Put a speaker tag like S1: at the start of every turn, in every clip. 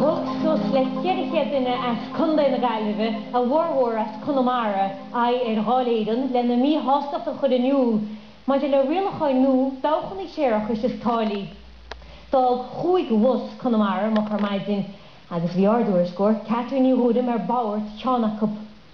S1: Thug suas le 400 duine as Contae na Gaillimhe, a bhformhór as Conamara, aghaidh ar Dháil Éireann lena míshástacht a chur in iúl maidir le rialacháin nua dabhchannaí séarachais is táillí. D'fhág chúig bhus Conamara moch ar maidin agus bhí ár dtuairisceoir, Catherine Ní Ghuairim ar bord ceann acu.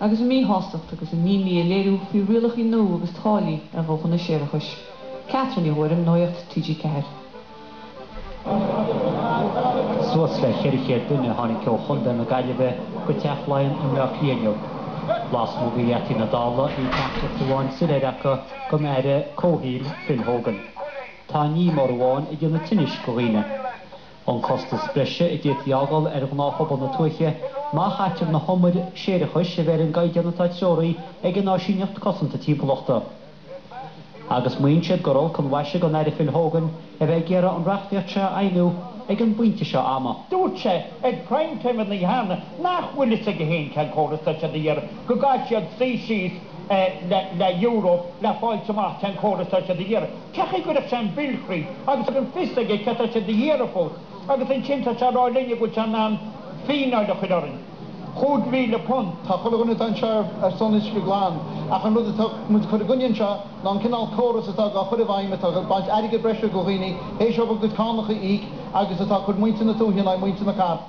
S2: agus a míshástacht agus a n-imní a léiriú faoi rialacha nua agus táillí ar dhabhchanna séarachais. Catherine Ní Ghuairim, Nuaíocht TG4. Suas le 400 duine a tháinig
S3: ó Chontae na Gaillimhe go Teach Laighean i mBleá Cliath inniu. Lasmuigh de gheataí na Dála bhí teachtaireacht amháin soiléir acu don Aire Comhshaoil, Phil Hogan. Tá aon ní mór amháin ag déanamh tinnis do dhaoine. An costas breise a d'fhéadfaí fhágáil ar ghnáthphobal na tuaithe má chaitear na humair séarachais a bheith ar an gcaighdeán atá treoraithe ag an Áisíneacht Cosanta Timpeallachta. Agus maíonn siad gur olc an mhaise don Aire Phil Hogan a bheith ag iarraidh an reachtaíocht seo a fheidhmiú ag an bpointe seo ama. Dúirt sé
S4: ar Prime Time an oíche cheana nach bhfuil fhios aige féin cén córas atá siad ag iarraidh, go gcaithfidh siad suí síos le Europe le fáilt amach cén córas atá siad ag iarraidh. Cén chaoi a gcuirfidh sé an bille thríd agus gan fios aige céard atá sé ag iarraidh fós agus ansin tá sé ag rá linn go bhfuil sé in ann fíneáil a chur orainn, chúig mhíle punt. Tá chuile dhuine atá anseo
S5: ar son uisce glan ach an rud atá muid ag cur i gcoinne anseo ná an cineál córas atá á chur i bhfeidhm atá ag baint airgead breise de dhaoine théis dóibh a gcuid cánach a íoc agus atá ag cur muintir na tuaithe in aghaidh muintir na cathrach.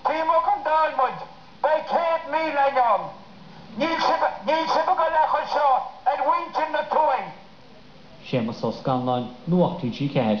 S4: Tiocfaidh muid ag an Dáil muid, beidh céad míle ann. Níl sibh, níl sibh ag dul ag cur seo ar
S3: mhuintir
S4: na tuaithe. Séamus Ó
S3: Scanláin, Nuacht TG4.